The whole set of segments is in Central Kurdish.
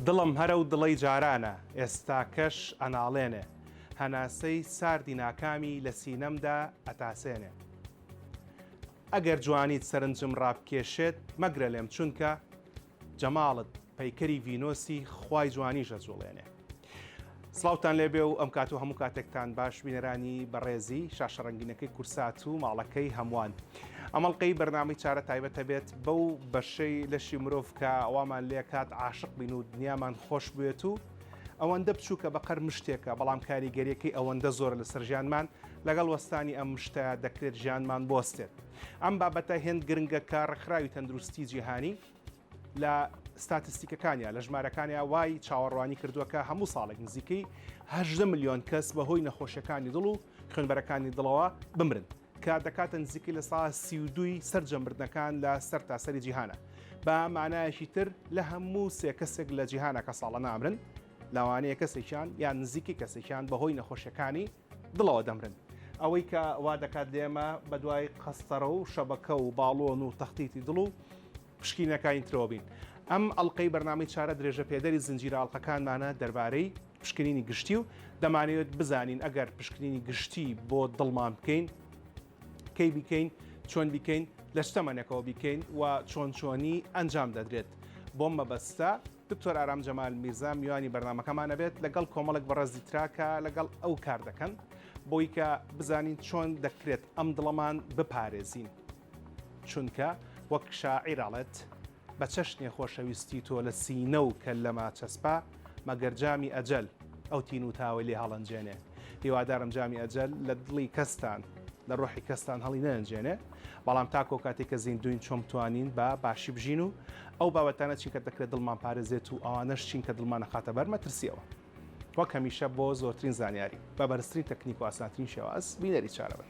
دڵم هەرە و دڵەی جارانە ئێستاکەش ئەناڵێنێ هەناسەی ساردی ناکامی لە سینەمدا ئەتاسێنێ ئەگەر جوانیت سەرنجم ڕابکێشێت مەگرە لێم چونکە جەماڵت پەیکەری ڤینۆسی خوای جوانیش ئەجوڵێنێ. سڵاوتان لێبێ و ئەم کات و هەموو کاتێکتان باش بینەرانی بەڕێزی شاشە ڕەنگینەکەی کورسات و ماڵەکەی هەمووان ئەمەڵقەی بەرنامەی چارە تایبەتە بێت بەو بەشەی لەشی مرۆڤ کە ئەوامان لێ کات عاشق بین و دنیامان خۆش بێت و ئەوەندە بچووکە بە قەر مشتێکە بەڵام کاریگەریەکەی ئەوەندە زۆرە لەسەر ژیانمان لەگەڵ وەستانی ئەم مشتە دەکرێت ژیانمان بۆستێت. ئەم بابەتە هێند گرنگە کە ڕێکخراوی تەندروستی جیهانی لە ستاتستیکەکانیا لە ژمارەکانیا وای چاوەڕوانی کردووە کە هەموو ساڵێک نزیکەی هەژدە میلیۆن کەس بەهۆی نەخۆشیەکانی دڵ و خوێنبەرەکانی دڵەوە بمرن کە دەکاتە نزیکی لە سا سی و دوی سەرجە مردنەکان لە سەر تاسەری جیهانە بە مانایەکی تر لە هەموو سێ کەسێک لە جیهانەکە ساڵە نامرن لاوانەیە کەسێکیان یان نزیکی کەسێکیان بەهۆی نەخۆشیەکانی دڵەوە دەمرن. ئەوەی کە وا دەکات لێمە بەدوای قەستەڕە و شەبەکە و باڵۆن و تەختیتی دڵ و پشکینەکانی ترەوە بین. ئەم ئەڵقەی بەرنامەی چارە درێژەپێدەری زنجیرە ئەڵقەکانمانە دەربارەی پشکنینی گشتی و دەمانەوێت بزانین ئەگەر پشکنینی گشتی بۆ دڵمان بکەین کەی بیکەین چۆن بیکەین لە چ تەمەنێکەوە بیکەین و چۆن چۆنی ئەنجام دەدرێت بۆم مەبەستە دکتۆر ئارام جەمال میرزا میوانی بەرنامەکەمان ئەبێت لەگەڵ کۆمەڵێک بەڕێزی ترا کە لەگەڵ ئەو کار دەکەن بۆی کە بزانین چۆن دەکرێت ئەم دڵەمان بپارێزین چونکە وەک شاعیر ئاڵێت بە چەشنێ خۆشەویستی تۆ لە سینە و کە لەما چەسپا مەگەر جامی ئەجەل ئەو تین و تاوەی لێ هەڵەنجێنێ هیوادارم جامی ئەجەل لە دڵی کەستان لە ڕۆحی کەستان هەڵی نەنجێنێ بەڵام تاکۆ کاتێک کە زیندوین چۆم توانین بە باشی بژین و ئەو بابەتانە چینکە دەکرێت دڵمان پارێزێت و ئەوانەش چین کە دڵمانە خاتە بەر مەترسیەوە وەک هەمیشە بۆ زۆرترین زانیاری بە بەرزترین تەکنیک و ئاسانترین شێواز بینەری چارە بن.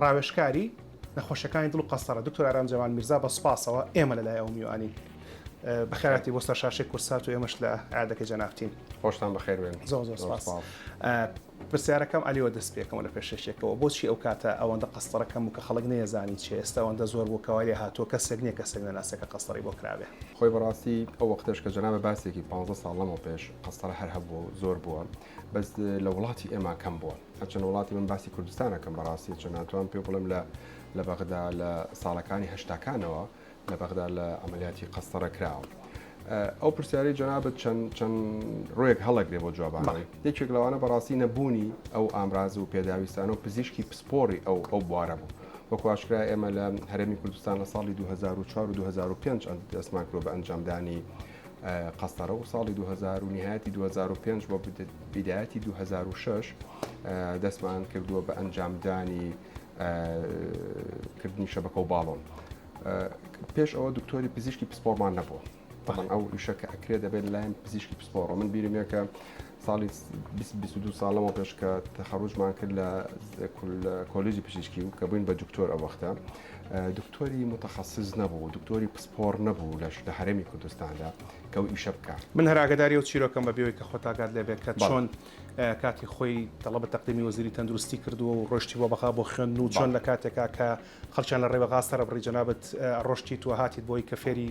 ڕاوێژکاری نەخۆشیەکانی دڵ و قەستەڕە دکتۆر ئارام جەمال میرزا بە سوپاسەوە ئێمە لە لای ئەو میوانین بەخێراتی بۆ سەرشاشەی کورسات و ئێمەش لە عادەکە جەنابتین خۆشتان بەخێروێن زۆ زۆر سپاس پرسیارەکەم ئەلیەوە دەست پێکەمە لە پێشێکەوە بۆچی ئەو کاتە ئەوەندە قەستەڕەکەم و کە خەڵک نێزانی چێ ئێستا ئەوەندە زۆر بۆ کەوا لێ هاتووە کەسێک نیە کەسێک نەناسێکە قەستەڕی بۆ کرابێ خۆی بەڕاستی ئەو وەختەش کە جەنابە باسێکی 15 ساڵ لەمەو پێش قەستەڕە هەر هەبووە و زۆر بووە. بەس لە وڵاتی ئێمە کەم بووە هەچەند وڵاتی من باسی کوردستانەکەم بەڕاستی چە ناتوان پێ بڵم لە لە بەغدا لە ساڵەکانی هەشتاکانەوە لە بەغدا لە ئەعملیاتی قەستەڕە کراوە. ئەو پرسیاری جەنابەت چەند چەند ڕۆیەک هەڵەگرێ بۆ جوابانەوەی یەکێک لەوانە بەڕاستی نەبوونی ئەو ئامراز و پێداویستانە و پزیشکی پسپۆری ئەو ئەو بوارە بوو وەکواشکرا ئێمە لە هەرێمی کوردستان لە ساڵی 2004 و 2005 دەستمان کرۆ بە ئەنجامدانی قەسرە و ساڵی 2000 و نهایەتی 2005 بۆ بیدایەتی 2006 دەستمان کردووە بە ئەنجامدانی کردنی شەبەکە و باڵۆن پێش ئەوە دکتۆری پزیشکی پسپۆڕمان نەبوو بەڵام ئەو ئیشە کە ئەکرێ دەبێت لایم پزیشکی پسپۆڕە من بیرمێکە ساڵی بیست بیست و دوو ساڵ لەمەو پێش کە تەخەڕوجمان کرد لە کۆلیجی پزیشکی و کە بووین بە دکتۆر ئەو وەختە دکتۆری متخصص نەبوو دکتۆری پسپۆڕ نەبوو لەش لە هەرێمی کوردستاندا کە ئەو ئیشە بکا. من هەر ئاگەداری ئەو چیرۆکەم بە بێوەی کە خۆت ئاگات لێ بێ کە چۆن کاتی خۆی تەڵەبە تەقدیمی وەزیری تەندروستی کردووە و ڕۆشتیوە بەغا بۆ خوێندن و چۆن لە کاتێکا کە خەڵکیان لە ڕێبەغا سەرەبڕی جەنابت ڕۆشتیت و هاتیت بۆی کە فێری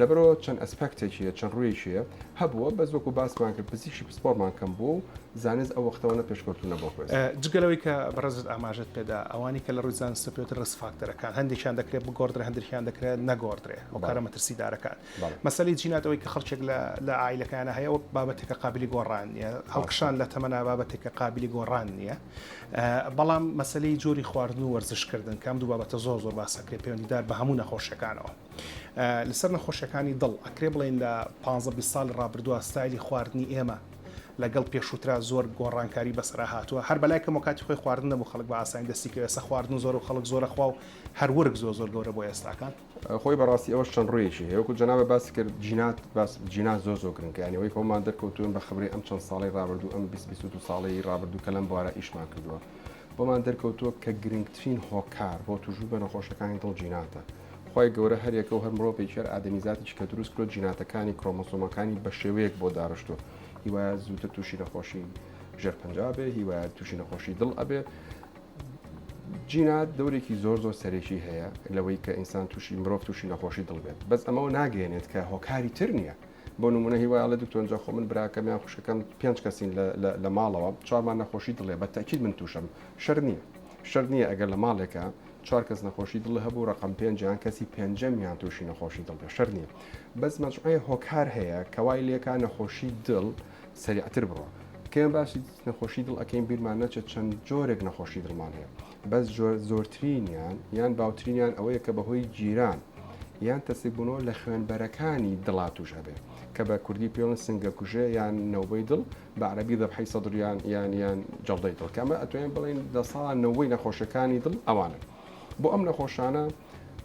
لەبەرئەوە چەند ئەسپێکتێکی هەیە، چەند ڕوویەکی هەیە، هەبووە بەس وەکو باسمان کرد پزیشکی پسپۆڕمان کەم بووە و زانست ئەو وەختەوەنە پێشکەوتوو نەبووە خوێزدا. جگە لەوەی کە بەڕێزت ئاماژەت پێدا ئەوانی کە لە ڕووی زانستە پێوترێ ڕیسک فاکتەرەکان، هەندێکیان دەکرێ بگۆڕدرێ هەندرکیان دەکرێ نەگۆڕدرێ، هۆکارە مەترسیدارەکان. مەسەلەی جینات ئەوەی کە خەڵکێک لە لە عائیلەکەیانا هەیە ئەوە بابەتێکە قابیلی گۆڕان نییە، هەڵکشان لە تەمەنا بابەتێکە قابیلی گۆڕان نییە. بەڵام مەسەلەی جۆری خواردن و وەرزشکردن کە ئەم دوو بابەتە زۆر زۆر باسەکرێ پەیوەندیدار بە هەموو نەخۆشیەکانەوە. لەسەر نەخۆشیەکانی دڵ ئەکرێ بڵێن لە پانزە بیست ساڵی ڕابردووە ستایلی خواردنی ئێمە لەگەڵ پێشووترا زۆر گۆڕانکاری بەسەرا هاتووە هەر بەلای کەمەوە کاتی خۆی خواردن نەبوو خەڵک بە ئاسانی دەستی کرد ئێستا خواردن و زۆر و خەڵک زۆر ئەخوا و هەر ورگ زۆر زۆر گەورە بۆ ئێستاکان. خۆی بەڕاستی ئەوەش چەند ڕوویەکی هەیە وەکو جەنابت باست کرد جینات باس جینات زۆر زۆر گرنگە یانی ئەوەی کە ومان دەرکەوتوون بە خبرەی ئەم چەند ساڵەی ڕابردوو ئەم بیست بیست و دوو ساڵەی ڕابردوو کە لەم بوارە ئیشمان کردووە ومان دەرکەوتووە کە گرنگترین هۆکار بۆ تووشبوون بە نەخۆشەکانی دڵ جیناتە خوای گەورە هەر یەکەو هەر مرۆڤێکی هەر ئادەمیزاتێکی کە دروست کرۆ جیناتەکانی کرۆمۆسۆمەکانی بە شێوەیەک بۆ داڕشتوە هیوایە زووتر تووشی نەخۆشی ژێر پنجابێ هیوایە تووشی نەخۆشی دڵ ئەبێ جینات دەورێکی زۆر زۆر سەرێکی هەیە لەوەی کە ئینسان تووشی مرۆڤ تووشی نەخۆشی دڵ بێت بەس ئەمەوە ناگەێنێت کە هۆکاری تر نییە بۆ نمونە هیوایڵە دکتۆنجا خۆ من براکەم یان خوشکەکەم پێنج کەسین لە ماڵەوە چامان نەخۆشی دڵێ بە تاکیل من تووشم شەر نییە شەر نییە ئەگەر لە ماڵێکە چوار کەس نەخۆشی دڵی هەبوو ڕەقەم پێنج یان کەسی پێنجەمیان توشی نەخۆشی دڵ بێ شەرت نیە بەس مەجموعەی هۆکار هەیە کەوای لێکا نەخۆشی دڵ سەریعتر بڕۆ کێ باسی نەخۆشی دڵ ئەکەین بیرمان نەچێت چەند جۆرێک نەخۆشی دڵمان هەیە بەس جۆر زۆرترینیان یان باوترینیان ئەوەیە کە بەهۆی گیران یان تەسک بوونەوە لە خوێنبەرەکانی دڵا توش ئەبێ کە بە کوردی پێڵن سنگە کوژێ یان نەوبەی دڵ بە عەرەبی ذەبحەی سەدر یان یان یان جەڵدەی دڵ کە ئەمە ئەتوانین بڵێین لە سەدا نەوەی نەخۆشیەکانی دڵ ئەوانن بۆ ئەم نەخۆشانە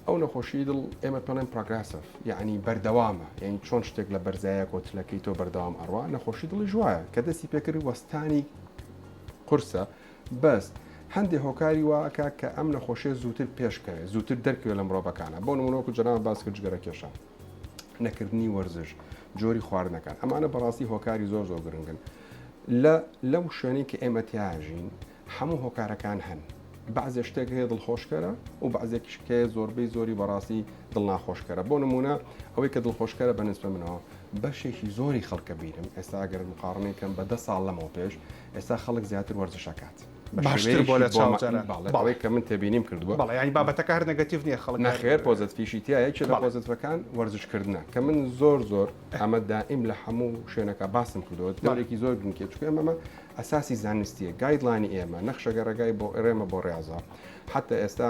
ئەو نەخۆشی دڵ ئێمە پێڵێن پرۆگرسف یعنی بەردەوامە یعنی چۆن شتێک لە بەرزایە کۆتلەکەی تۆ بەردەوام ئەڕوا نەخۆشی دڵی ژوایە کە دەستی پێکرد وەستانی قورسە بەس هەندێ هۆکاری واکە کە ئەم نەخۆشیە زووتر پێشکەوێت زووتر دەرکەوێت لە مرۆڤەکانە بۆ نمونۆکو جەناوە باس کرد جگەرە کێشان نەکردنی وەرزش جۆری خواردنەکان ئەمانە بەڕاستی هۆکاری زۆر زۆر گرنگن لە لەو شوێنی کە ئێمە تیاژین هەموو هۆکارەکان هەن بعضێ شتێک هەیە دڵخۆشکەرە و بعضێکیش کە زۆربەی زۆری بەڕاستی دڵناخۆشکەرە بۆ نمونە ئەوەی کە دڵخۆشکەرە بە نسبە منەوە بەشێکی زۆری خەڵکە بینم ئێستا گەر مقاڕنێکم بە دە ساڵ لەمەوە پێش ئێستا خەڵک زیاتر وەرزشەکات. باشتر بۆ لە چاو جاران باڵێک کە من تێبینیم کردووە بەڵێ ینی بابەتەکە هەر نەگەتیڤ نییە خەڵک نەخێر پۆزت فیشی تایەکی لە پۆزتەکان وەرزشکردە کە من زۆر زۆر ئەمە دائیم لە هەموو شوێنەکە باسم کردەوە دەورێکی زۆر بنکێ چکە ئەمەمە ئەساسی زانستیە گایدلانی ئێمە نەخشەگە ڕێگای بۆ ئێرێمە بۆ ڕێزە حتا ئێستا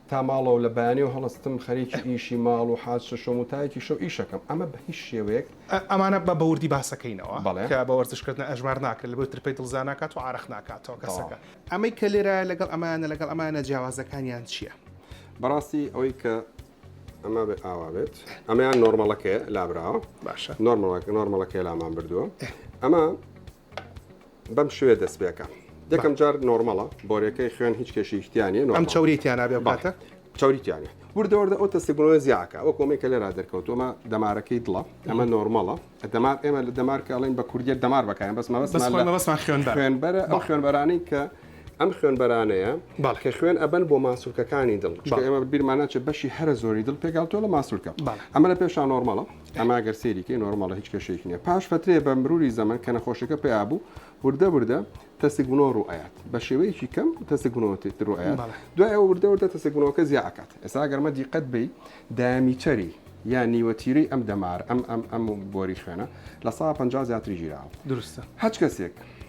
تا ماڵەوە لە بەیانیەوە هەڵستم خەریکی ئیشی ماڵ و حاج شەشۆم و تا یەکی شەو ئیش ئەکەم ئەمە بە هیچ شێوەیەک. ئەمانە با بە وردی باسەکەینەوە کە بە وەرزش کردن ئەژمار ناکرێت لەبەر ترپەی دڵ زیا ناکات و عارەق ناکاتەوە کەسەکە. ئەمەی کە لێرایە لەگەڵ ئەمانە لەگەڵ ئەمانە جیاوازەکانیان چیە؟ بەڕاستی ئەوەی کە ئەمە بێ ئاوا بێت ئەمەیان نۆرمەڵەکەیە لابراوە باشە نۆرمەڵەکە نۆرمەڵەکەی لامان بردووە ئەمە بەم شێوەیە دەست پێکە یەکەم جار نۆرمەڵە بۆرەکەی خوێن هیچ کێشیش تیانە ئەم چوری تیانابێ باتە چوری تیانە وردە وردە ئەو تەستیگرۆە زیاکە ئەو کۆمی کە لێرا دەرکەوتومە دەمارەکەی دڵە ئەمە نۆرمەڵە دەمار ئێمە لە دەمارکە ئەڵین بە کوردیت دەمار بەکەیان بەس مەبەستمان خوێن خوێنبەرە ئەو خوێنبەرانی کە ئەم خوێنبەرانەیە باڵکە خوێن ئەبن بۆ ماسولکەکانی دڵ ئێمە بیرمانە چ بەشی هەرە زۆری دڵ پێگاتۆ لە ماسولکە ئەمە لە پێشان نۆرمەڵە ئەمە گەر سەیری کەی نۆرماڵە هیچ کێشەیەکی نیە پاش فەترێ بە مروری زەمەن کە نەخۆشەکە پیا بوو وردە وردە تەسک بنەوە ڕوئات بە شێوەیەکی کەم تەسک بنەوە تێتر ڕایات دوای ئەوە وردە وردە تەسک بنەوەکە زیاکات ئێستا گەرمە دیقەت بی دامیتەری یا نیوەتیری ئەم دەمار ئەم ئەم ئەم بۆری خوێنە لە 150 زیاتری ژیراوە درستە هەچ کەسێک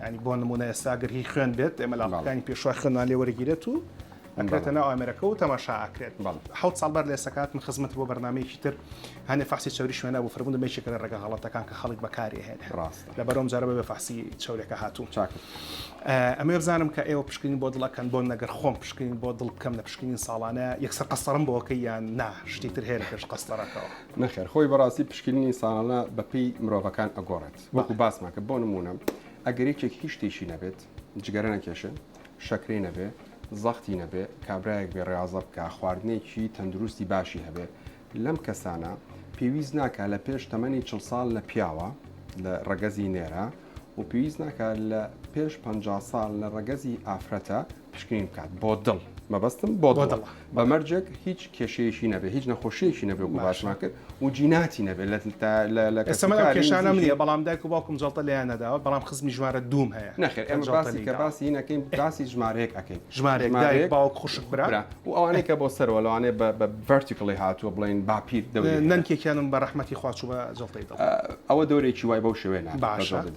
یانی بۆ نمونە ئێستا گەر هی خوێن بێت ئێمە لاپەکانی پێشوای خوێنمان لێ وەرەگیرێت و ئەکرێتە ناو ئامێرەکە و تەماشا ئاکرێت حوت ساڵ بەر لە ئێسەکات من خزمەت بۆ بەرنمەیەکی تر هەنێ فاسی چوری شوێنە بۆ فرمون دەمێکێکە لە ڕێگە هەڵەتەکان کە خەڵک بەکاری هێن ڕاست لە بەرۆم جارە بە فاسی چورێکە هاتوو چاک ئەمێ بزانم کە ئێوە پشکین بۆ دڵەکەن بۆ نەگەر خۆم پشکین بۆ دڵ بکەم لە پشکین ساڵانە یەکسەر قەسەرم بۆکە یان نا شتی تر هەیە لە پێش قەستەرەکەەوە نەخێر خۆی بەڕاستی پشکینی ساڵانە بەپی مرۆڤەکان ئەگۆڕێت وەکو باسمان کرد بۆ نموونە ئەگەر یەکێک هیچ شتێکی نەبێت جگەرە نەکێشێ شەکرەی نەبێ زەختی نەبێ کابراایەک بێ ڕاضە بکە خواردنێکی تەندروستی باشی هەبێت لەم کەسانە پێویست ناکە لە پێش تەمەنی چ ساڵ لە پیاوە لە ڕەگەزی نێرە و پێویست ناکە لە پێش پ ساڵ لە ڕەگەزی ئافرەتە پشکنین بکات بۆ دڵ مەبەستم بۆ دڵ بە مەرجێک هیچ کێشەیەشی نەبێ هیچ نەخۆشیەکی نەبێ و باشمان کرد و جیناتی نەبێت لە کەسەمە کێشانە منە بەڵام دایک و باوکم جڵتە لێیان نەداوە بەڵام خزمی ژمارە دوم هەیە نەخێر ئەمە باسی کە باسی نەکەین باسی ژمارەیەک ئەەکەین ژمارێک دایک باوک خوشک برا و ئەوانەی کە بۆ سەرەوە لەوانێ بە ڤەرتیکڵی هاتووە بڵێن باپیر دەوری نەنکێکیانم بە ڕەحمەتی خواچوو بە جڵتەی ئەوە دەورێکی وای بەو شوێنە باشێت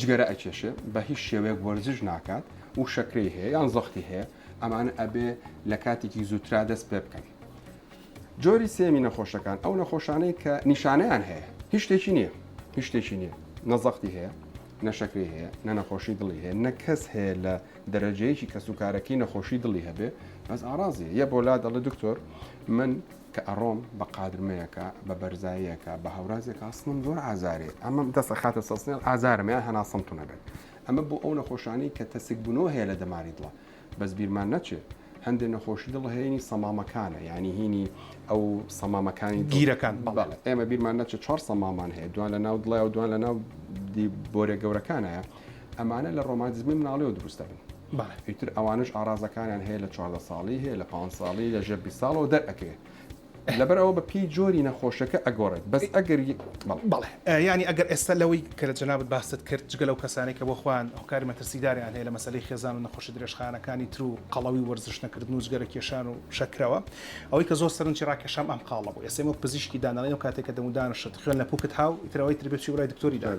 جگەرە ئەکێشێ بە هیچ شێوەیەک وەرزش ناکات و شەکرەی هەیە یان زەختی هەیە ئەمانە ئەبێ لە کاتێکی زووترا دەست پێ بکەن جۆری سێمی نەخۆشەکان ئەو نەخۆشانەی کە نیشانەیان هەیە هیچ شتێکی نییە هیچ شتێکی نییە نەزەختی هەیە نەشەکری هەیە نە نەخۆشی دڵی هەیە نە کەس هەیە لە دەرەجەیەکی کەسوکارەکەی نەخۆشی دڵی هەبێ بەس ئارازیە یە بۆ لا دەڵێ دکتۆر من کە ئەڕۆم بە قادرمەیەکا بە بەرزاییەکا بە هەورازێکا هەستمم زۆر ئازارێ ئەمەم دەست ئەخاتە سەسنێڵ ئازارم یان هەناسەمتون ئەبێت ئەمە بۆ ئەو نەخۆشانەی کە تەسک بنەوە هەیە لە دەماری دڵە بەس بیرمان نەچێت هەندێک نەخۆشی دڵ هەیەی سەمامەکانە ینی هینی ئەو سەمامەکانی گیرەکان بەڵێ ئێمە بیرمان نەچێت چوار سەمامان هەیە دوان لە ناو دڵێ و دوان لە ناو بۆرە گەورەکانە ئەمانە لە ڕۆمانتیزمی مناڵیەوە دروست دەبن. ئیتر ئەوانەش ئاڕازەکانیان هەیە لە چواردە ساڵی هەیە لە پانز ساڵی لە ژێر بیست ساڵەوە دەرئەکەوێ. لەبەر ئەوە بە پێی جۆری نەخۆشەکە ئەگۆڕێت بەس ئەگەر ی بەڵێ. بەڵێ یانی ئەگەر ئێستا لەوەی کە جەنابت باست کرد جگە لەو کەسانەی کە بۆ خۆیان هۆکاری مەترسیداریان هەیە لە مەسەلەی خێزان و نەخۆشی درێژخایەنەکانی تر و قەڵەوی و وەرزش نەکردن و جگەرە کێشان و شەکرەوە ئەوەی کە زۆر سەرنجی ڕاکێشام ئەم قاڵە بوو ئێستا ئێمە وەک پزیشکی دانەڵێین ئەو کاتێک کە دەمودانشت خوێن لە پوکت هاو ئیتر ئەوەی تر بێ چووی بڕای دکتۆری دار.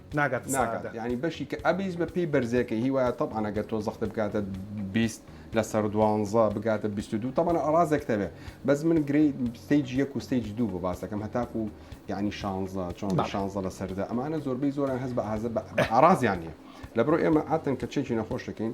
ناگاتە سەعادە. ناگات یانی بەشی کە ئەبیس بە پێی بەرزە کە هی وایە تەبعەن ئەگەر تۆ زەختە بکاتە بیست لەسەر دوانزە بگاتە بیست و دوو تەبەن ئەڕازێک تەبێ بەس من گرێی ستەیج یەک و ستەیج دوو بۆ باسەکەم هەتاکو و یعنی شانزە چۆن بە بەڵێ. شانزە لە سەردا ئەمانە زۆربەی زۆران هەز بە ئازە بە ئارازیان نیە لە بڕۆ ئێمە عاتەن کە چێکی نەخۆش دەکەین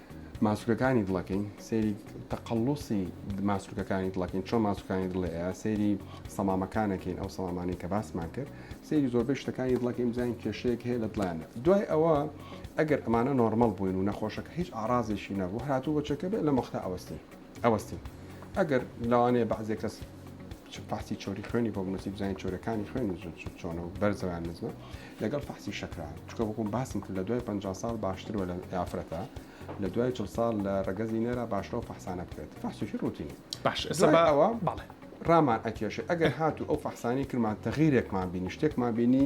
ماسولکەکانی دڵەکەین سەیری تەقلوسی ماسولکەکانی دڵەکەین چۆن ماسوکانی دڵێ سەیری سەمامەکانەکەین ئەو سەمامانی کە باسمان کرد سەیری زۆربەی شتەکانی دڵەکەی بزانین کێشەیەک هەیە لە دڵیانە دوای ئەوە ئەگەر ئەمانە نۆرمەڵ بووین و نەخۆشەکە هیچ ئارازێکی نەبوو هاتوو بەچەکە بێت لە مەختا ئەوەستین ئەوەستێ ئەگەر لەوانەیە بەعزێ کەس پاسی چۆری خوێنی بۆ بنووسی بزانین چۆرەکانی خوێن و زود چۆنە و بەرزەوان نزمە لەگەڵ فەحسی شەکران چکە بکوم باسم کرد لە دوای 50 ساڵ باشترەوە لە یافرەتە لە دوای چل ساڵ لە ڕگەزی نێرە باشەوە فەحسانە بکرێت فەحسیشی ڕوتینی باش ئەوە بەڵێ ڕامان ئەکێشێ ئەگەر هاتو ئەو فەحسانی کرمان تەغیرێکمان بینی شتێکمان بینی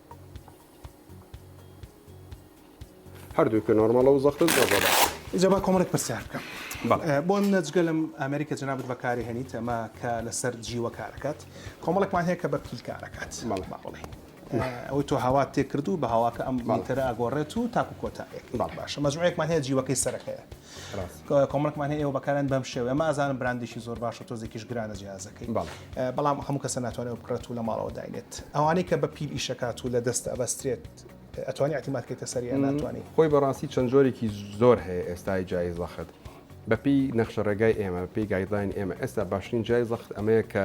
هەردووکە نۆرماڵە و زەختت زۆر بەباشە. ئیجا با کۆمەڵێک پرسیار بکەم. بەڵێ. بۆ نمونە جگە لەم ئامێرەی کە جەنابت بەکاری هەنیت ئەمە کە لەسەر جیوە کارەکات کۆمەڵێکمان هەیە کە بە پیل کارەکات. بەڵێ. با بڵێین ئەوەی تۆ هەوات تێکردوو بە هەواکە ئەم میتەرە ئەگۆڕێت و تاکو کۆتایەک. بەڵێ. باشە مەجموعەیەکمان هەیە جیوەکەی سەرەکەیە. کۆمەڵکمان هەیە ئێوە بەکارن بەم شێوە ئەمە ئازانم براندێکی زۆر باش و تۆزێکیش گرانە جیازەکەی بەڵام هەموو کەسە ناتوانێت بکڕێت و لە ماڵەوە داینێت ئەوانەی کە بە پیل ئیشەکات و لە دەست ئەبەسترێت ئەتوانی ئەتیماتکەیتە سەریان ناتوانانی خۆی بەڕاستی چەند جۆرێکی زۆر هەیە ئێستای جای زەخت بەپی نەخشە ڕێگای ئێمە پێی گایدلاین ئێمە ئێستا باشترین جای زەخت ئەمەیە کە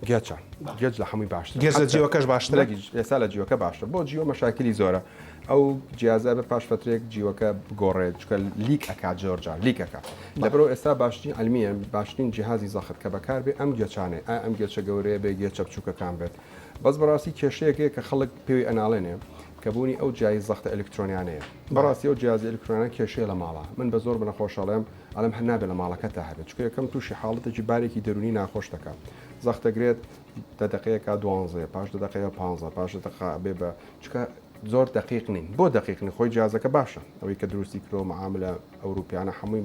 گێچە گێچ لە حەمووی باشتر گێچ لە جیوەکەش باشترە ئێستا لە جیوەکە باشتر بۆ جیوە مەشاکلی زۆرە ئەو جیازە بە پاش فترێک جیوەکە بگۆڕێت چکە لیک ئەک جۆرجان لیکەکە لە بەرەوە ئێستا باشترین ئەلمیە باشترین جیهازی زەخت کە بەکاربێ ئەم گێچانێ ئەم گێچە گەورەیە بێ گێچە بچووکەکان بێت بەس بەڕاستی کێشەیەکێ کە خەڵک پێوی ئەناڵێنێ کە بوونی ئەو جیای زەختە ئەلکترۆنیانەیە بەڕاستی ئەو جیازی ئەلکترۆنان کێشەیە لە ماڵە من بە زۆر بنەخۆشەڵێم ئەڵێم هەر نابێ لە ماڵەکەتا هەبێت چونکە یەکەم تووشی حاڵەتێکی بارێکی دەروونی ناخۆش دەکا زەخت دەگرێت دە دەقەیەکا دوانزەیە پاش دە دەقەیە پانزە پاش دە دەقا بێ بە چونکە زۆر دقیق نین بۆ دقیقنی خۆی جیازەکە باشە ئەوەی کە دروستی کرۆ معاملە ئەوروپیانە حمووی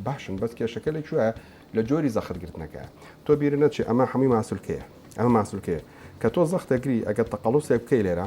باشن بەس کێشەکە لە کوێ لە جۆری زەخت گرتنەکە تۆ بیرە نەچی ئەمە حمووی ماسولکەیە ئەمە ماسولکەیە کە تۆ زەخت دەگری ئەگەر تەقەڵوسێک بکەی لێرە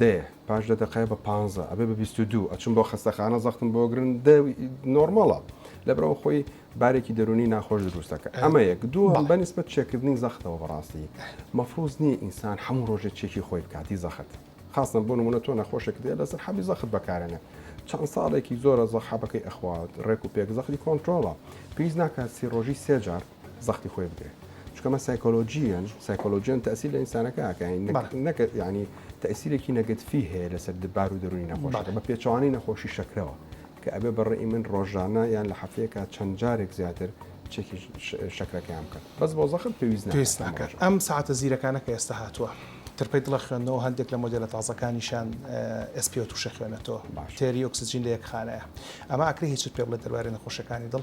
دەیە پاش دە دەقەیە بە پانزە ئەبێ بە بیست و دوو ئەچم بۆ خەستەخانە زەختم بۆ گرن دە نۆرماڵە لەبرەوە خۆی بارێکی دەرونی ناخۆش دروستەکە ئەمە یەک دوو بە نسبەت چێکردنی زەختەوە بەڕاستی مەفروز نییە ئینسان هەموو ڕۆژێ چێکی خۆی بکاتی زەخت خاستن بۆ نمونە تۆ نەخۆشێک دێ لەسەر حەبی زەخت بەکارێنە چەند ساڵێکی زۆرە زەخحەبەکەی ئەخوات ڕێک و پێک زەختی کۆنتترۆڵە پێیز ناکات سی ڕۆژی سێجار زەختی خۆی بدرێ چکە مە سایکۆلۆژیان سایکۆلۆژیان تاسی لە ئینسانەکە ئاکەین نەکە ینی تەسیرێکی نەگەتفی هەیە لەسەر دبار و دەرونی نەخۆشەکە بە پێچوانی نەخۆشی شەکرەوە کە ئەبێ بەڕێی من ڕۆژانە یان لە هەفتەیەکە چەند جارێک زیاتر چێکی شەکرەکەیان بکەن بەس بۆ زەخم پێویست پێویست ناکات ئەم ساعتە زیرەکانە کە ئێستا هاتووە ترپەی دڵە خوێندنەوە هەندێک لە مۆدیلە تازەکانیشان ئەسپی و تووشە خوێنێتەوە تێری ئۆکسسیجین لە یەک خانەیە ئەمە ئەکری هیچت پێ بڵێ دەربارەی نەخۆشەکانی دڵ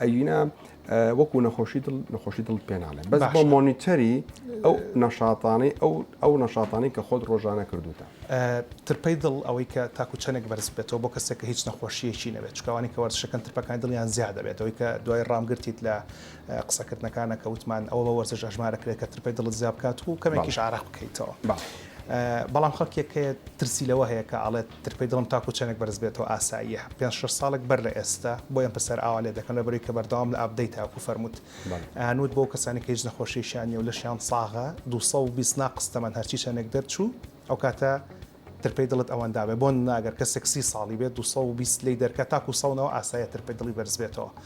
ئەگینا وەکو نەخۆشی دڵ نەخۆشی دڵ پێ ناڵێ بەس بۆ مۆنیتەری ئەو نەشاتانەی ئەو ئەو نەشاتانەی کە خۆت ڕۆژانە کردوتە ترپەی دڵ ئەوەی کە تاکو چەنێک بەرز بێتەوە بۆ کەسێک کە هیچ نەخۆشیەکی نەبێت چکوانی کە وەرزشەکەن ترپەکانی دڵیان زیاد دەبێت ئەوەی کە دوای ڕامگرتیت لە قسەکردنەکانە کە وتمان ئەوە بە وەرزش ئەژمارەکرێت کە ترپەی دڵت زیاب بکات و کەمێکیش عراق بکەیتەوە بەڵام خەڵکێک هەیە ترسی لەوە هەیە کە ئەڵێت ترپەی دڵم تاکو چەندێک بەرز بێتەوە ئاساییە پێنج شەش ساڵێک بەر لە ئێستا بۆ ئێمە پرسیار ئاوا لێ دەکەن لەبەرەوەی کە بەردەوام لە ئابدەیت تاکو فەرمووت هەنووت بۆ کەسانی کە هیچ نەخۆشیشیان نیە و لەشیان ساغە دوو سەد و بیست ناقس تەمەن هەرچی چەندێک دەرچوو ئەو کاتە ترپەی دڵت ئەوەندا بێ بۆ نمونە ئەگەر کەسێک سی ساڵی بێت دوو سەد و بیست لێی دەرکە تاکو سەد و نەوە ئاساییە ترپەی دڵی بەرز بێتەوە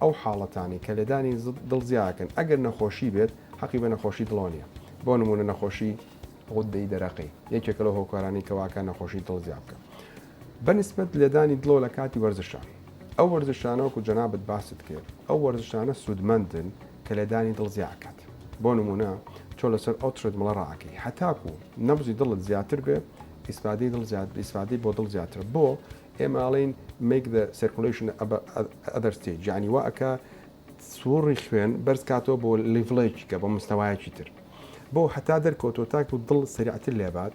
ئەو حاڵەتانەی کە لێدانی دڵ زیا ئەکەن ئەگەر نەخۆشی بێت حەقی بە نەخۆشی دڵەوە نییە بۆ نموونە نەخۆشی غودەی دەرەقی یەکێکە لەو هۆکارانەی کە واکە نەخۆشی دڵ زیا بکە بەنسبەت لێدانی دڵۆ لە کاتی وەرزشە ئەو وەرزشانەوەکو جەنابەت باست کرد ئەو وەرزشانە سوودمەندن کە لێدانی دڵ زیا ئەکات بۆ نمونە تۆ لەسەر ئەو ترێدمڵە ڕاکەی هەتاکو نەبزی دڵت زیاتر بێ ئیسفادەی دڵ زیاد ئیسفادەی بۆ دڵ زیاترە بۆ ئێمە ئەڵێین make the circulation of other stage یانی وا ئەکا سوڕی خوێن بەرز کاتەوە بۆ لیڤڵێکی کە بۆ مستەوایەکی تر بۆ هەتا دەرکەوتۆ تاکو دڵ سەریعتر لێبات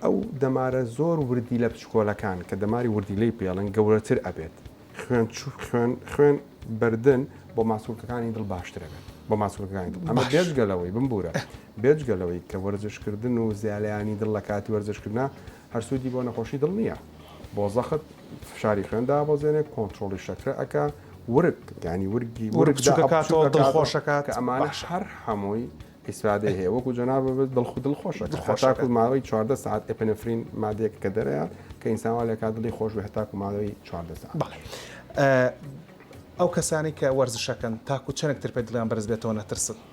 ئەو دەمارە زۆر وردی لە پچکۆلەکان کە دەماری وردی لێی پێڵن گەورەتر ئەبێت خوێن چ خوێن خوێن بردن بۆ ماسولکەکانی دڵ باشتر ئەبێت بۆ ماسولەکانی دڵ ئەمە بێجگەلەوەی بمبورە بێجگەلەوەی کە وەرزشکردن و زیالیانی دڵ لە کاتی وەرزشکردنا هەر سوودی بۆ نەخۆشی دڵ نییە بۆ زەخت فشاری خوێن دابەزێنێ کۆنتترۆڵی شەکرە ئەک ورک گانی ورگی ورگخۆشەکات ئەمانە شەر هەمووی ئیسرادە هەیە وەکو جەنا ببێت دڵخ دڵ خۆشە خۆشاکو ماوەی چواردە ساعت ئەپنفرین مادێک کە دەرەیە کە ئینسانوا لە کا دڵی خۆش بە هەتاکو ماوەی چواردە ساعت ئەو کەسانی کە وەرزشەکەن تاکو چەندێکتر پێ دڵیان بەرز بێتەوە نەترسن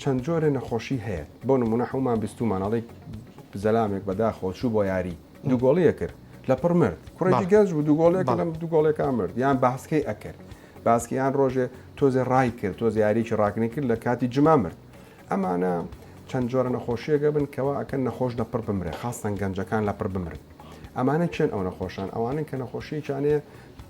چەند جۆرێ نەخۆشی هەیە بۆ نمونە حومان بیستومان ئەڵی زەلامێک بەداخەوە چوو بۆ یاری دوو گۆڵیە کرد لە پڕ مرد کوڕێکی گەنج بوو دوو گۆڵێک لەم دوو گۆڵێکان مرد یان باسکەی ئەکرد باسکیان ڕۆژێ تۆزێ ڕای کرد تۆز یاریکی ڕاکنی کرد لە کاتی جما مرد ئەمانە چەند جۆرە نەخۆشیەکە بن کەوا ئەکەن نەخۆش لە پڕ بمرێ خاستەن گەنجەکان لە پڕ بمرن ئەمانە چێن ئەو نەخۆشان ئەوانن کە نەخۆشیەکیانەیە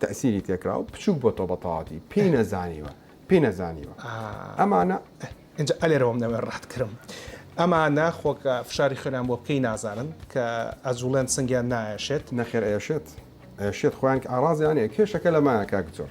تەئسیری تێکراو بچوک بۆتەوە بەتەواوەتی پێی نەزانیوە پێی نەزانیوە ئەمانە ئینجا ئەلێرەوەم نەوێ ڕەحت کرم ئەمانە خۆکە فشاری خوێنان بۆ بکەی نازانن کە ئەجوڵێن سنگیان نایەشێت نەخێر ئێشێت ئێشێت خۆیان کە ئاڕازیانەیە کێشەکە لەمایە کاک جۆر.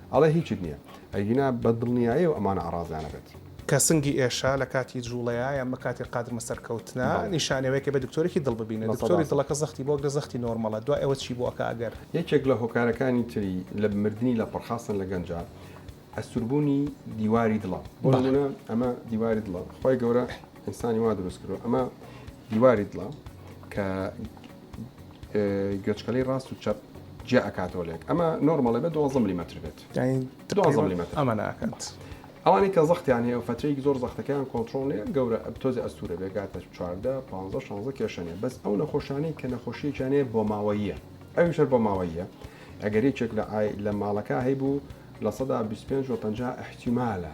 ئەڵێ هیچت نیە ئەگینا بە دڵنیایەوە ئەمانە ئەڕازیانە بێت. کە سنگی ئێشە لە کاتی جوڵەیە یان بە کاتی قادرمە سەرکەوتنە بەڵێ. نیشانەی ئەوەیە کە بێ دکتۆرێکی دڵ ببینە لە سەدا دکتۆری سەد. دڵەکە زەختی بۆ ئەگرە زەختی نۆرمەڵە دوای ئەوە چی بۆ ئەکا ئەگەر. یەکێک لە هۆکارەکانی تری لە مردنی لەپڕ خاستەن لە گەنجا ئەستوربونی دیواری دڵە بۆ بەڵێ. نمونە ئەمە دیواری دڵە خوای گەورە ئینسانی وا دروست کردوە ئەمە دیواری دڵە کە. گوێچکەلەی ڕاست و چەپ جیا ئەکاتەوە لێک ئەمە نۆرمەڵێ بە دوازە ملیمەتر بێت دوازە ملیمەتر ئەمە ناکات ئەوانی کە زەختیان هەیە و فەتەیەکی زۆر زەختەکەیان کۆنتترۆل نیە گەورە تۆزی ئەستورە بێگاتە چواردە پ 16 کێشەنێ بەس ئەو نەخۆشانی کە نەخۆشیەکیانێ بۆ ماوەیە ئەوی شەر بۆ ماوەیە ئەگەر یەکێک لە لە ماڵەکە هەیبوو لە سەدا 25 و 50 احتیمالە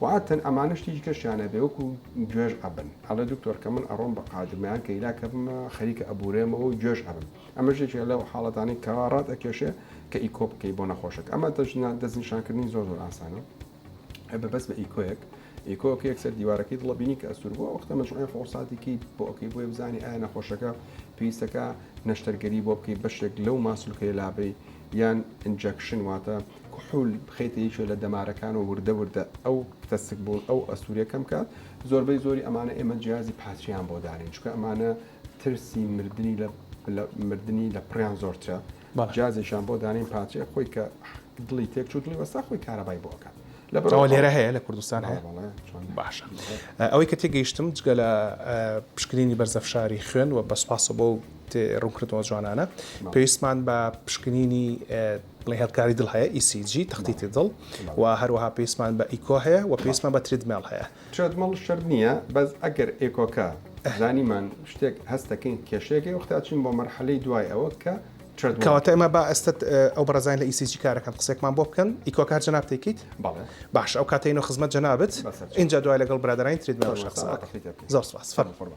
و عادتەن ئەمانەش تیجی کەشیان نەبێ وەکو گوێژ ئەبن ئەڵێ دکتۆر کە من ئەڕۆم بە قاجمەیان کە ئیلا کە بمە خەریکە ئەبورێمەوە و گوێژ ئەبم ئەمەش یەکێ لەو حاڵەتانەی کەوا ڕات ئەکێشێ کە ئیکۆ بکەی بۆ نەخۆشەکە ئەمە دەژنا دەستنیشانکردنی زۆر زۆر ئاسانە هەر بە بەس بە ئیکۆیەک ئیکۆکە یەکسەر دیوارەکەی دڵە بینی کە ئەسوور بووە وەختە مەجموعی فۆساتێکی بۆ ئەوکەی بۆیە بزانانی ئایا نەخۆشەکە پێویستەکە نەشتەرگەری بۆ بکەی بەشێک لەو ماسولکەی لابەی یان ئینجەکشن واتە کحول بخەیتە یەکێ لە دەمارەکان و وردە وردە ئەو تەسک بوون ئەو ئەستوورە کەم کات زۆربەی زۆری ئەمانە ئێمە جیازی پاتریان بۆ دانین چکە ئەمانە ترسی مردنی لە مردنی لە پڕیان زۆرترە جیازێکیان بۆ دانین پاتری خۆی کە دڵی تێک چوو دڵی وەستا خۆی کارەبای بۆ ئەکات لە بەرەوە لێرە هەیە لە کوردستان هەیە باشە ئەوەی کە تێگەیشتم جگە لە پشکنینی بەرزەفشاری خوێن و بەسپاسە بۆ ڕوونکردنەوە جوانانە پێویستمان بە پشکنینی لە هێڵکاری دڵ هەیە، ECG، تەختیتی دڵ، و هەروەها پێویستمان بە ئیکۆ هەیە و پێویستمان بە تریدمێڵ هەیە. تریدمێڵ شەرت نییە، بەس ئەگەر ئێکۆکە زانیمان شتێک هەست دەکەین کێشەیەک هەیە وەختە ئەچین بۆ مەرحەلەی دوای ئەوە کە تریدمێڵ. کەواتە ئێمە با ئێستا ئەو بەڕێزانەی لە ECG کارەکەن قسەیەکمان بۆ بکەن، ئیکۆکە هەر جەنابت دەیکەیت؟ بەڵێ. باشە ئەو کاتە یەینەوە خزمەت جەنابت، ئینجا دوای لەگەڵ برادەرانی تریدمێڵیشا قسە ئەکەین. زۆر سوپاس. فەرموو.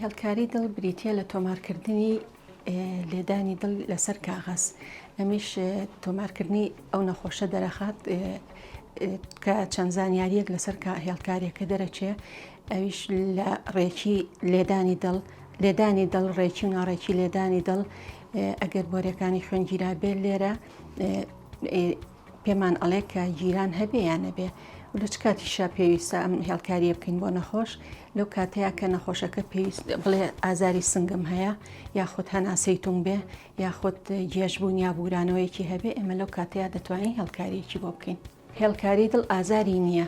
هێڵکاری دڵ بریتییە لە تۆمارکردنی لێدانی دڵ لەسەر کاغەز ئەمیش تۆمارکردنی ئەو نەخۆشە دەرەخات کە چەند زانیاریەک لەسەر هێڵکارێکە دەرەچێ ئەویش لە ڕێکی لێدانی دڵ لێدانی دڵ ڕێکی و ناڕێکی لێدانی دڵ ئەگەر بۆرەکانی خوێنگیرا بێت لێرە پێمان ئەڵێ کە جیران هەبێ یان نەبێ و لە چ کاتیشا پێویستە ئەم هێڵکاریە بکەین بۆ نەخۆش لەو کاتەیە کە نەخۆشەکە پێویست بڵێ ئازاری سنگم هەیە یاخود هەناسەی تون بێ یاخود جێژبوون یا بورانەوەیەکی هەبێ ئێمە لەو کاتەیە دەتوانین هێڵکاریەکی بۆ بکەین هێڵکاری دڵ ئازاری نییە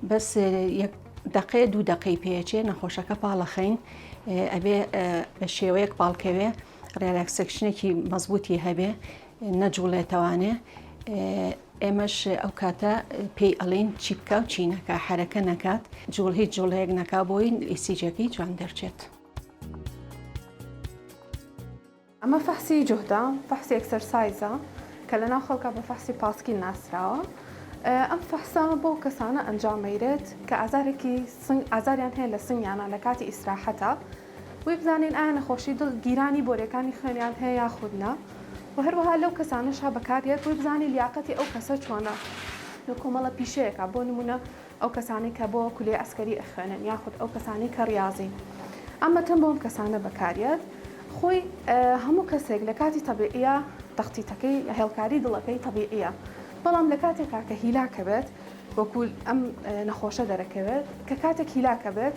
بەس یەک دقێ دوو دقی پێچێ نەخۆشەکە پاڵەخین ئەبێ بە شێوەیەک پاڵکەوێ ڕێراکسەکشنێکی مەزبوتی هەبێ نەجوڵێتەوانێ ئێمەش ئەو کاتە پێی ئەڵین چی بکە و چی نەکە حرەکە نەکات جوڵ هیچ جوڵەیەک نەکا بۆی ئیسیجەکەی جوان دەرچێت. ئەمە فەحسی جوهدە فەحسی ئەکسەرسایزە کە لە ناو خەڵکا بە فەحسی پاسکیل ناسراوە ئەم فەحسە بەو کەسانە ئەنجامەیرێت کە ئازارێکی سنگ ئازاریان هەیە لە سنگیانە لە کاتی ئیسراحەتە بۆی بزانین ئایا نەخۆشی دڵ گیرانی بۆریەکانی خوێنیان هەیە یاخود نا و هەروەها لەو کەسانەشا بەکاردێت بۆی بزانین لیاقەتی ئەو کەسە چۆنە لە کۆمەڵە پیشەیەکا بۆ نمونە ئەو کەسانەی کە بۆ کولێ ئەسکەری ئەخوێنن یاخود ئەو کەسانەی کە ڕیازین ئەم مەتەم بۆم کەسانە بەکاریات خۆی هەموو کەسێک لە کاتی تەبیعیە تەختیتەکەی هێڵکاری دڵەکەی تەبیعیە بەڵام لە کاتێکا کە هیلاکەبێت وەکول ئەم نەخۆشە دەرەکەوێت کە کاتێک هیلاکەبێت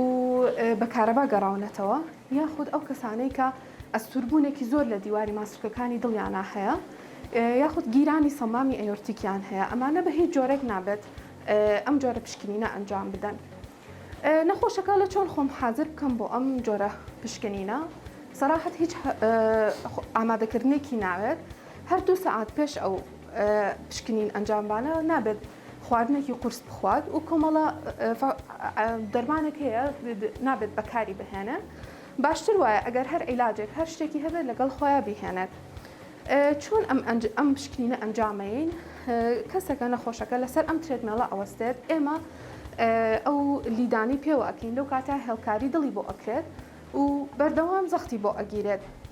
و بە کارەبا گەڕاونەتەوە یاخود ئەو کەسانەی کە ئەستوربوونێکی زۆر لە دیواری ماسولکەکانی دڵیانا هەیە یاخود گیرانی سەمامی ئەیۆرتیکیان هەیە ئەمانە بە هیچ جۆرێک نابێت ئەم جۆرە پشکنینە ئەنجام بدەن. نەخۆشەکە لە چۆن خۆم حازر بکەم بۆ ئەم جۆرە پشکنینە سەراحەت هیچ ئامادەکردنێکی ناوێت هەر دوو سەعات پێش ئەو پشکنین ئەنجامبانە نابێت خواردنێکی قورس بخوات و کۆمەڵە دەرمانێک هەیە نابێت بەکاری بهێنێ باشتر وایە ئەگەر هەر عیلاجێک هەر شتێکی هەبێت لەگەڵ خۆیان بیهێنێت چۆن ئەم ئەم شکینە ئەنجامەین کەسەکە نەخۆشەکە لەسەر ئەم ترێدمێڵە ئەوەستێت ئێمە ئەو لیدانی پێوە ئەکەین لەو کاتە هێڵکاری دڵی بۆ ئەکرێت و بەردەوام زەختی بۆ ئەگیرێت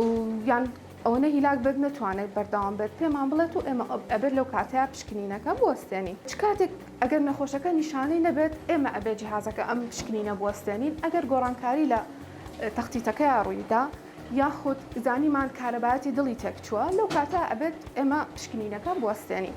و یان ئەوەنە هیلاک بێت نەتوانێت بەردەوام بێت پێمان بڵێت و ئێمە ئەبێت لەو کاتەیە پشکنینەکە بوەستێنین چ کاتێک ئەگەر نەخۆشەکە نیشانەی نەبێت ئێمە ئەبێ جیهازەکە ئەم پشکنینە بوەستێنین ئەگەر گۆڕانکاری لە تەختیتەکەیا ڕوویدا یاخود زانیمان کارەبایەتی دڵی تێکچووە لەو کاتە ئەبێت ئێمە پشکنینەکە بوەستێنین.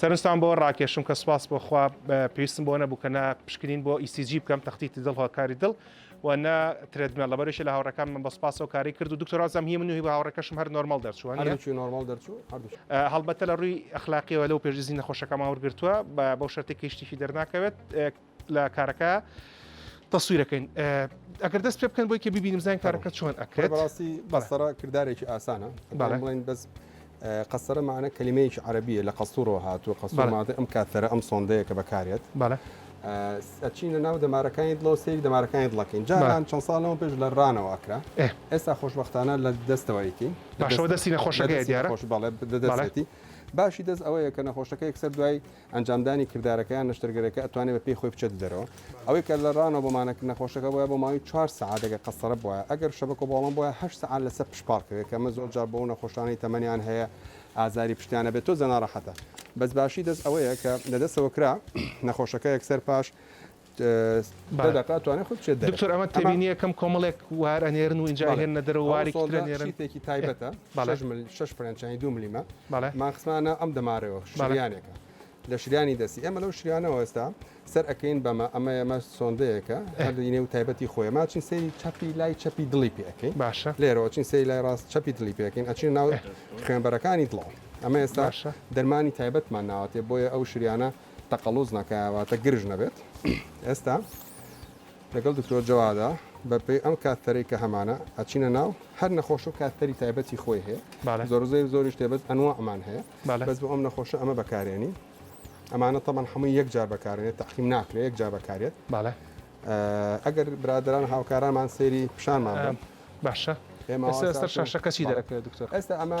سەرنجتان بۆ ڕاکێشم کە سپاس بۆ خوا پێویستم بۆ نەبوو کە نە پشکنین بۆ ECG بکەم تەختیتی دڵ هۆکاری دڵ و نە ترێدمێل لەبەرشی لە هاوڕەکان من بە سپاسەوە کاری کرد و دکتۆرازم هی من و هی بە هاوڕەکەشم هەر نۆرمال دەرچووە هەردووکی نۆرمال دەرچوو هەردووکی هەڵبەتە لە ڕووی ئەخلاقیەوە لەو پێشدیزی نەخۆشەکەمان وەرگرتووە بە بەو شەرتێکی شتێکی دەرناکەوێت لە کارەکە تەسویرەکەین ئەگەر دەست پێ بکەن بۆی کە ببینیم زان کارەکە چۆن ئەکرێت بەڕاستی بەسەرە کردارێکی ئاسانە بەڵێن بەس قەسەرە مانە کللیمەیەکی عربیە لە قەسوورەوە هاتووە قەسومادە ئەم کاتەرە ئەم سۆندەیە کە بەکارێت بەڵێ ئەچینە ناو دەمارەکانی دڵەوە سێری دەمارەکانی دڵەکەین جاران چەند ساڵەوە پێش لە ڕانەوە ئەکرا ئێستا خۆشببختانە لە دەستەوەیتی باشەوە دەستی نەخۆشەکە دیارە خۆش بەڵێ دەدەێتی باشی دەست ئەوەیە کە نەخۆشەکە یەکسەر دوای ئەنجامدانی کردارەکە یان نەشتەرگەرەکە ئەتوانێ بە پێی خۆی بچێتە دەرەوە. ئەوەی کە لە ڕانەوە بۆ مانەکردن نەخۆشەکە بوایە بۆ ماوەی چوار سەعات ئەگەر قەستەرە بوایە، ئەگەر شەبەکە بۆڵەم بوایە هەشت سەعات لەسەر پشت پاڕ کەوێ کە ئەمە زۆر جار بۆ ئەو نەخۆشانەی تەمەنیان هەیە ئازاری پشتیان ئەبێ تۆزێ ناڕەحەتە. بەس باشی دەست ئەوەیە کە لە دەستەوە کرا نەخۆشەکە یەکسەر پاش. دکتۆر ئەمە تێبینیە کەم کۆمەڵێک وار ئەنێرن و ئینجا ئەیهێننە دەرەوە وارێکی تر ئەنێرن. شتێکی تایبەتە بەڵێ شەش فرەنچانی دوو ملیمە بەڵێ مان خستمانە ئەم دەمارەوە شریانێکە لە شریانی دەستی ئێمە لەو شریانەوە ئێستا سەر ئەکەین بەمە ئەمە ئێمە سۆندەیەکە هەردەینێ و تایبەتی خۆی ماچین سەیری چەپی لای چەپی دڵی پێ ئەەکەین باشە لێرەوە چین سەیری لای ڕاست چەپی دڵی پێکەین ئەچین ناو خوێنبەرەکانی دڵەوە ئەمە ئێستا باشە دەرمانی تایبەتمان ناوەتێ بۆیە ئەو شریانە تەقەڵوز نەکا واتە گرژ نەبێت ئێستا لەگەڵ دکتۆر جەوادا بەپێی ئەم کاتەرەی کە هەمانە ئەچینە ناو هەر نەخۆش و کاتەری تایبەتی خۆی هەیە زۆرزەی زۆری شتێبێت ئەنوە ئەمان هەیە بەس بۆ ئەم نەخۆشە ئەمە بەکارێنی ئەمانە تەمان هەمووی یەک جار بەکارێت تاقیم ناکرێت یەک جار بەکارێت باە ئەگەر برادران هاوکارانمان سێری پیشانمان باشە ئێمە سەر شاشەکەچی دەکرێت دکتۆر ئێستا ئەمە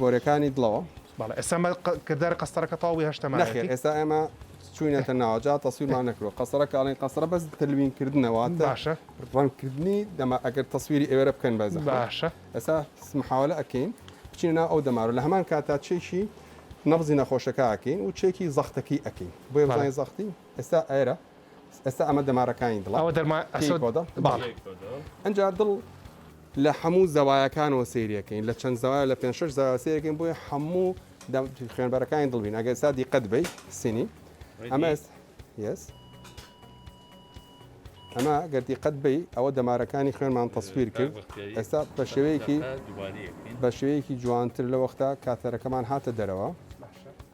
بۆرەکانی دڵەوە. بەڵێ ئێستا مە کرداری قەستەرەکە تەواو بووی هەشتە مایەتی. نەخێر ئێستا ئێمە چووینەتە ناوە جا تەسویرمان نەکردووە قەستەرە کە ئەڵێن قەستەرە بەس تەلوین کردنە واتە باشە ڕەنگ کردنی دەما ئەگەر تەسویری ئێوەرە بکەن بە زەحمەت باشە ئێستا محاوەلە ئەکەین بچینە ناو ئەو دەمارە لە هەمان کاتا چێکی نەبزی نەخۆشەکە ئەکەین و چێکی زەختەکەی ئەکەین بۆیە بەڵێ بزانین زەختی ئێستا ئەرە ئێستا ئەمە دەمارەکانی دڵە ئەوە دەرمان پێی ئەسۆد کۆدە باڵ پێی کۆدە ئەجا دڵ لە حەموو زەوایەکانەوە سەیرەکەین لە چەند زەوایە لە پێنج شەش زەوایە سەیرەکەین بۆیە حەموو دەم خوێنبەرەکانی دڵ بین ئەگەر ئێستا دیقەت بی سینی ئەمە ڕێدی؟ ئێس- یەس ئەمە گەر دیقەت بی ئەوە دەمارەکانی خوێنمان تەسویر کرد ئێستا بە شێوەیەکی دووبارەیەکەین بە شێوەیەکی جوانتر لە وەختا کاتەرەکەمان هاتە دەرەوە باشە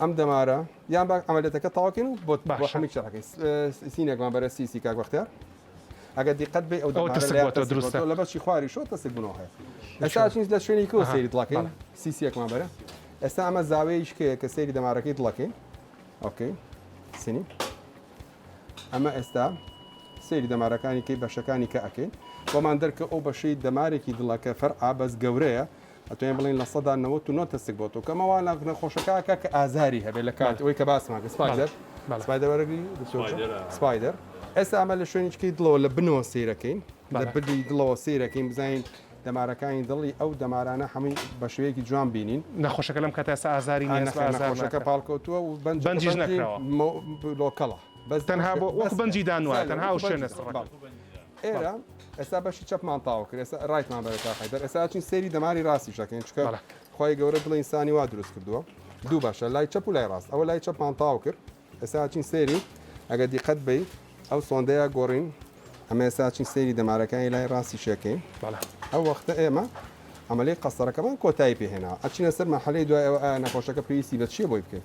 ئەم دەمارە یان با عملەتەکە تاواکەین و بۆ بەشەمی چڕەکەی سینێکمان بەرە سیسی کاک بەختیار ئەگەر دیقەت بێ ئەو دروست لە بەشی خواری شۆ تەسک بنەوە هەیە ئەستا چین لە شوێنی کۆ سەیری دڵەکەین سیسیەکمان بەرە ئێستا ئەمە زاوەیەش کە کە سەیری دەمارەکەی دڵەکەین ئۆکەی سنی ئەمە ئێستا سەیری دەمارەکانی کەی بەشەکانی کە ئەەکەین بۆمان دەرکە ئەو بەشەی دەمارێکی دڵەکە فەرعا بەس گەورەیە ئەتوانین بڵێین لە سەدا نەوەت و نۆ تەسک بۆ تۆ کەمە وا ناخ نەخۆشەکە کە کە ئازاری هەبێت لە کاتی ئەوەی کە باسمان کرد سپایدەر سپایدەر وەرەگری دکتۆر جان سپایدەر ئێستا ئەمە لە شوێنی چکەی دڵەوە لە بنەوە سەیرەکەین لە بردی دڵەوە سەیرەکەین بزانین دەمارەکانی دڵی ئەو دەمارانە هەمووی بە شێوەیەکی جوان بینین نەخۆشەکە لەم کاتە ئێستا ئازاری نیە ئێستا ئازار نەخۆشەکە ناکات. پاڵکەوتووە و بەنج بەنجیش بەنجی نەکراوە. مۆ- لۆکەڵە بەس تەنها بۆ وەکو بەنجی دانوایە، تەنها ئەو شوێنە سڕەکە. بەڵێ. ئێرە ئێستا بەشی چەپمان تاو کرد ئێستا ڕایتمان بەرە تا حیدەر ئێستا چین سێری دەماری ڕاستی شەکەین چکە بەڵێ. خی گەورە دڵی ئینسانی وا دروست کردووە دوو باشە لای چەپ و لای ڕاست ئەوە لای چەپمان تاو کرد ئێستا چین سێری ئەگە دیقەت بی ئەو سۆندەیە گۆڕین ئەمە ئێستا چین سێری دەمارەکانی لای ڕاستی شەکەین بەڵێ. ئەو وەختە ئێمە عملی قەسەرەکەمان کۆتایی پێهێنا ئەچینە سەر مەحلەی دوای ئەوە ئایا نەخۆشەکە پێویستی بە چیە بۆی بکەین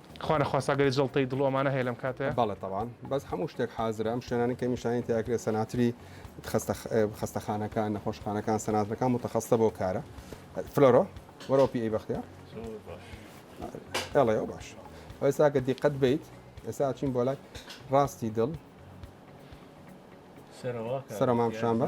خوا نەخواستا گەر جەڵتەی دڵ و ئەمانە هەیە لەم کاتە. بەڵێ تەبان بەس هەموو شتێک حازرە ئەم شوێنانەی کە نیشانی تیا کرێ سەناتری خەستە خەستەخانەکان نەخۆشخانەکان سەناترەکان متخەستە بۆ کارە فلۆرۆ وەرەوە پی ئەی بەختیار ئێڵێ باش ئێستا کە دیقەت بیت ئێستا چین بۆ لای ڕاستی دڵ سەرەوە سەرەمام شامبە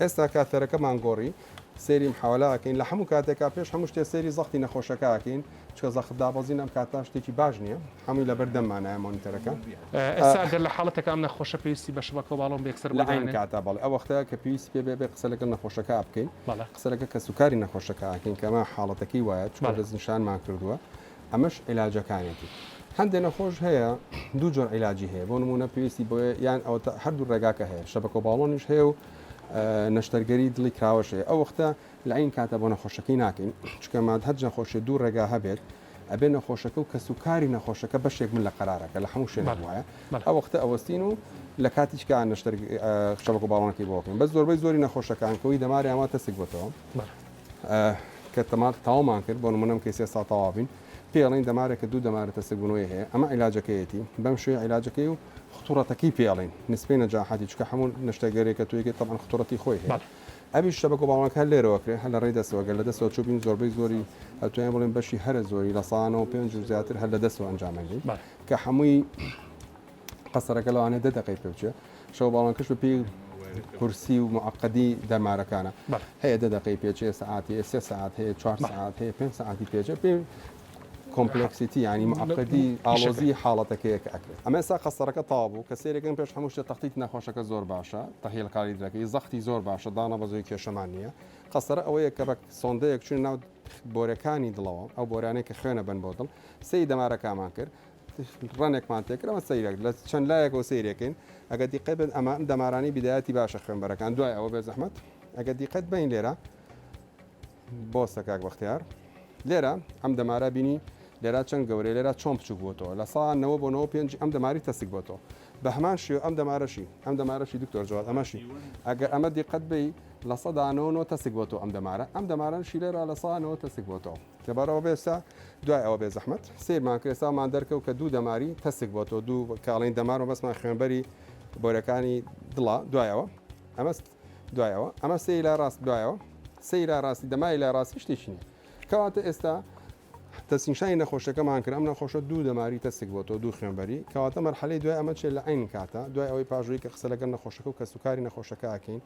ئێستا کە تەرەکەمان گۆڕی سەیریم حەوالە ئەکەین لە هەموو کاتێکا پێش هەموو شتێ سەیری زەختی نەخۆشەکە ئەکەین چکە زەخت دابەزین ئەم کاتە شتێکی باش نییە هەمووی لەبەر دەممانایە مۆنیتەرەکە ئێستا گەر لە حاڵەتێکا ئەم نەخۆشە پێویستی بە شبەکە و باڵۆن بە یەکسەر لە عەین بگەیەنێ؟ کاتا بەڵێ ئەو وەختە کە پێویستی پێ بێ بێ قسە لەگەڵ نەخۆشەکە بکەین بەڵێ. قسە لەگە کەسوکاری نەخۆشەکە ئەکەین کە ئەمە حاڵەتەکەی وایە چکە بەڵێ. دەستنیشانمان کردووە ئەمەش عیلاجەکانێتی. هەندێ نەخۆش هەیە دوو جۆر عیلاجی هەیە بۆ نموونە پێویستی بۆیە یان ئەوەتا هەردوو ڕێگاکە هەیە شەبەکۆ باڵۆنیش هەیە و نەشتەرگەری دڵی کراوەشێ ئەو وەختە لە عین کاتە بۆ نەخۆشەکەی ناکەین چکە ماد هەر نەخۆشی دوو ڕێگا هەبێت ئەبێ نەخۆشەکە و کەس و کاری نەخۆشەکە بەشێک من لە قەرارەکە لە هەموو شوێن وایە ئە وەختە ئەوەستین و لە کاتیچکە نەشتەر شەبکە باڵۆنەکەی بۆکەین بە زۆربەی زۆری نەخۆشەکان کەوی دەماریانوە تەسک بۆتەوە کە تەمات تاومان کرد بۆ نمونە ئەم کەیسە ئێستا تەواو بین پێی ئەڵێن دەمارێک کە دوو دەمارە تەسکبوونەوەی هەیە ئەمە عیلاجەکەیەتی بەم شێوەیە عیلاجەکەی و خطورەتەکەی پێ ئەڵێن نسبەی نەجاحەتی چکە هەموو نەشتەگەرێک کە توێکێت تەبەن خطورەتی خۆی هەیە ئەوی شتە بە گۆباڵەکە هەر لێرەوە کرێ هەر لە ڕێی دەستەوە گەر لە دەستەوە چوو بین زۆربەی زۆری ئەتوانین بڵێن بەشی هەرە زۆری لە سانەوە پێنج و زیاتر هەر لە دەستەوە ئەنجامەندی کە هەمووی قەسەرەکە لەوانێ دە دقی پێوچێ شەو باڵانکەش بەپی کورسی و معقدی دەمارەکانە هەیە دە دقی پێچێ سعاتی سێ ساعت هەیە چوار ساعت هەیە پێ ساعتی پێچێ پێ کۆمپلکسیتی ینی معقدی ئاڵۆزی حاڵەتەکەیەک ئەکرێت ئەمە سا قەسەرەکە تابوو کە سێرەکەم پێش هەمووشتە تەختیت نەخۆشەکە زۆر باشە تەهیل کاری درەکەی زەختی زۆر باشە دانا بە زۆی کێشەمان نییە قەسەر ئەوەیە کە بە سۆندەیەک چون ناو بۆرەکانی دڵەوە ئەو بۆرانێک کە خوێنە بن بۆ دڵ سی دەمارەکەمان کرد ڕەنێکمان تێکرد ئەمە سەیرەک لە چەند لایەکەوە سەیرێکین ئەگە دیقەت بێت ئەمە دەمارانی بیدایەتی باشە خوێنبەرەکان دوای ئەوە بێ زەحمەت ئەگە دیقەت بین لێرە بۆستە کاک بەختیار لێرە ئەم دەمارە بینی لێرا چەند گەورەی لێرا چۆن بچوک بۆتەوە لە ساانەوە بۆ 95 ئەم دەماری تەسک بۆتەوە بە هەمان شێو ئەم دەمارەشی ئەم دەمارەشی دکتۆر جوات ئەمەشی ئەگە ئەمە دیقەت بی لە سەدانەوە تەسک بۆتەوە ئەم دەمارە ئەم دەماران شیلێرا لە ساانەوە تەسک بۆتەوە لەبەرئەوە بێسە دوای ئەوە بێ زەحمەت سیرمان کرد ئێستامان دەرکەوت کە دوو دەماری تەسک بۆ تۆ دوو کاڵین دەمارەوە بەسمان خوێنبەری بۆرەکانی دڵا دوایەوە ئەمەست دوایەوە ئەمە سەی لای ڕاست دوایەوە سەی لای ڕاستی دەمای لای ڕاستی شتێکی نیە کەواتە ئێستا تەسینشانی نەخۆشەکەمان کرد ئەم نەخۆشە دوو دەماری تەسک بۆ تۆ دوو خوێنبەری کەواتە مەرحەلەی دوای ئەمە چێت لە عین کاتە دوای ئەوەی پاژووی کە قسە لەگەن نەخۆشەکە و کەسوکاری نەخۆشەکەکەین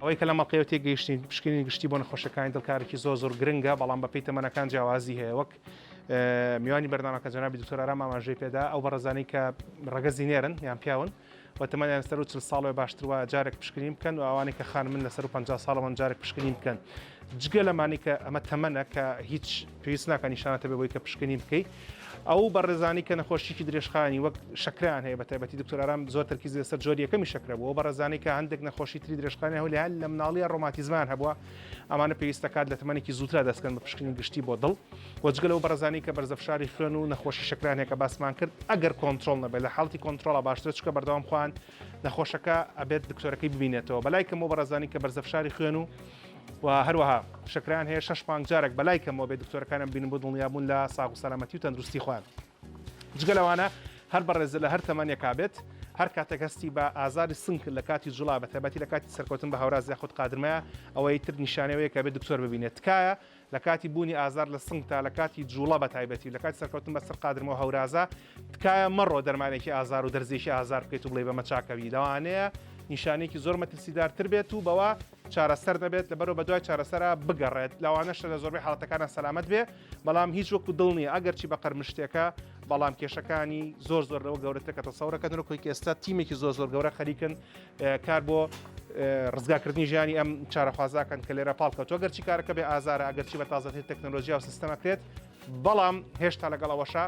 ئەوەی کە لەم ئەڵقەیەوە تێگەیشتین پشکنینی گشتی بۆ نەخۆشەکانی دڵ کارێکی زۆر زۆر گرنگە بەڵام بەپێی تەمەنەکان جیاوازی هەیە وەک میوانی بەرنامەکە جەنابی دکتۆر ئارام ئاماژەی پێدا ئەو بەڕێزانەی کە ڕەگەزی نێرن یان پیاون و تەمەنیان سەر و چل ساڵێ باشتر وایە جارێک پشکنین بکەن و ئەوانەی کە خانمن لەسەر و 50 ساڵەوەن جارێک پشکنین بکەن جگە لەمانی کە ئەمە تەمەنە کە هیچ پێویست ناکە نیشاناتە بێ بۆی کە پشکنین بکەیت ئەو بەڕێزانەی کە نەخۆشیکی درێژخایەنی وەک شەکران هەیە بە تایبەتی دکتۆر ئارام زۆر تەرکیز لەسەر جۆر یەکەمی شەکرە بووە بەڕێزانەی کە هەندێک نەخۆشی تری درێژخانی هەو لە لە مناڵیە ڕۆماتیزمان هەبووە ئەمانە پێویستە کات لە تمەنێکی زووترا دەستکەن بە پشکنی گشتی بۆ دڵ وەجگە لەو بەڕێزانەی کە بەرزە فشاری خوێن و نەخۆشی شەکرانێکە باسمان کرد ئەگەر کۆنتترۆل نەبێت لە حاڵتی کۆنتترۆڵە باشترە چکە بەردەوام خوان نەخۆشەکە ئەبێت دکتۆرەکەی ببینێتەوە بەلای کەمەوە بەڕێزانی کە بەرزە فشاری خوێن و و هەروەها شکران هەیە شش مانگ جارێک بەلای کەمەوە بێت دکتۆرەکانم بینن بۆ دڵنیابوون لە ساغ و سەلامەتی و تەندروستی خوان جگە لەوانە هەر بەڕێزە لە هەر تەمانێکا بێت هەر کاتێک هەستی بە ئازاری سنگ لە کاتی جوڵا بە تایبەتی لە کاتی سەرکەوتن بە هاوراز یاخود قادرمەیە ئەوەی تر نیشانەوەیە کە بێت دکتۆر ببینێت تکایە لە کاتی بوونی ئازار لە سنگتا لە کاتی جوڵە بە تایبەتی و لە کاتی سەرکەوتن بە سەر قادرمەوە هەورازە تکایە مەڕۆ دەرمانێکی ئازار و دەرزێکی ئازار بکەیت و بڵێ بەمە چاکەوی لەوانەیە نیشانێکی زۆر مەترسیدارتر بێت و بەوە چارەسەر دەبێت لە بەرەوە بە دوای چارەسەرا بگەڕێت لەوانەشە لە زۆربەی حڵاتەکانە سەلامت بێ بەڵام هیچ وەکو دڵ نیە ئەگەر چی بە قەرمشتێکە بەڵام کێشەکانی زۆر زۆر لەوە گەورەترکە تەسەورەکە نرۆکۆی ئێستا تیمێکی زۆر زۆر گەورە خەریکن کار بۆ ڕزگارکردنی ژیانی ئەم چارەخوازاکەن کە لێرە پاڵ کەوتوە گەرچی کارەکە بێ ئازارە ئەگەرچی بە تازەتر تەکنۆلۆژیا و سیستەمە کرێت بەڵام هێشتا لەگەڵ ئەوەشە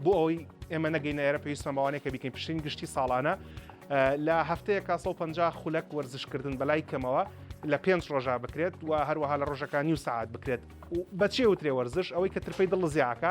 بۆ ئەوی ئێمە نەگەینە ئێرە پێویستە ماوانێکە بیکەین پشتین گشتی ساڵانە لە هەفتەیە 150 خولەک وەرزشکردن بەلای کەمەوە لە پێنج ڕۆژا بکرێت و هەروەها لە ڕۆژەکانی و سعات بکرێت بەچێ وترێ وەرزش ئەوەی کە ترپەی دڵ زیاکە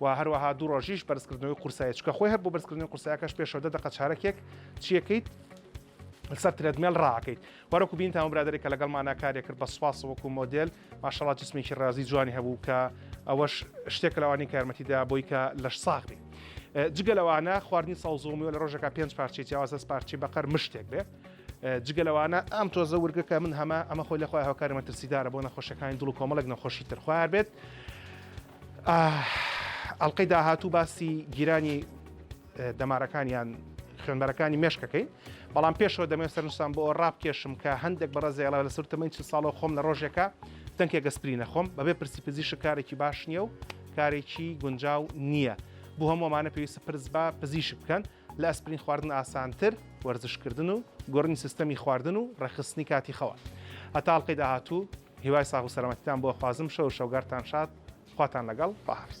و هەروەها دوو ڕۆژیش بەرزکردنەوەی قورسایی چکە خۆی هەر بۆ بەرزکردنی قورسایەکەش پێشەوە دە دقە چارەکێک چیەکەیت لەسەر ترێدمێل ڕاکەیت وەرەکو بین تاوە برادێک کە لەگەڵ مانا کارێک کرد بە سپاس وەکو مۆدل ماشەڵات جسمێکی ڕازی جوانی هەبوو کە ئەوەش شتێک لەوانی کارمەتیدا بۆی کە لەش ساغ بێ جگە لەوانە خواردنی ساوزۆمیەوە لە ڕۆژەکە پێنج پارچی جیاوازە پارچی بەقەر مشتێک بێ جگە لەوانە ئەم تۆزە ورگەکە من هەمە ئەمە خۆی لەخوای هاوکاری مەترسیدارە بۆ نەخۆشەکانی دڵ و کۆمەڵێک نەخۆشی ترخوار بێت ئەڵقەی داهاتوو باسی گیرانی دەمارەکانیان خوێنبەرەکانی مێشکەکەی بەڵام پێشەوە دەمێ سەرنجستان بۆ ئەو ڕابکێشم کە هەندێک بەڕە زێڵە لە سوور تەمەین چ ساڵە خۆم لە ڕۆژێکە دەنکێ گەسپری نەخۆم بەبێ پرسی پزیش کارێکی باش نییە و کارێکی گونجاو نییە بۆ هەموومانە پێویستە پرس بە پزیشک بکەن لە ئەسپرین خواردن ئاسانتر وەرزش کردن و گۆڕنی سیستەمی خواردن و ڕێکخستنی کاتی خەوە هەتا ئەڵلقەی داهاتوو هیوای ساغ و سەرەمەتیتان بۆ خوازم شەو شەوگارتان شاد خواتان لەگەڵ پاحرس.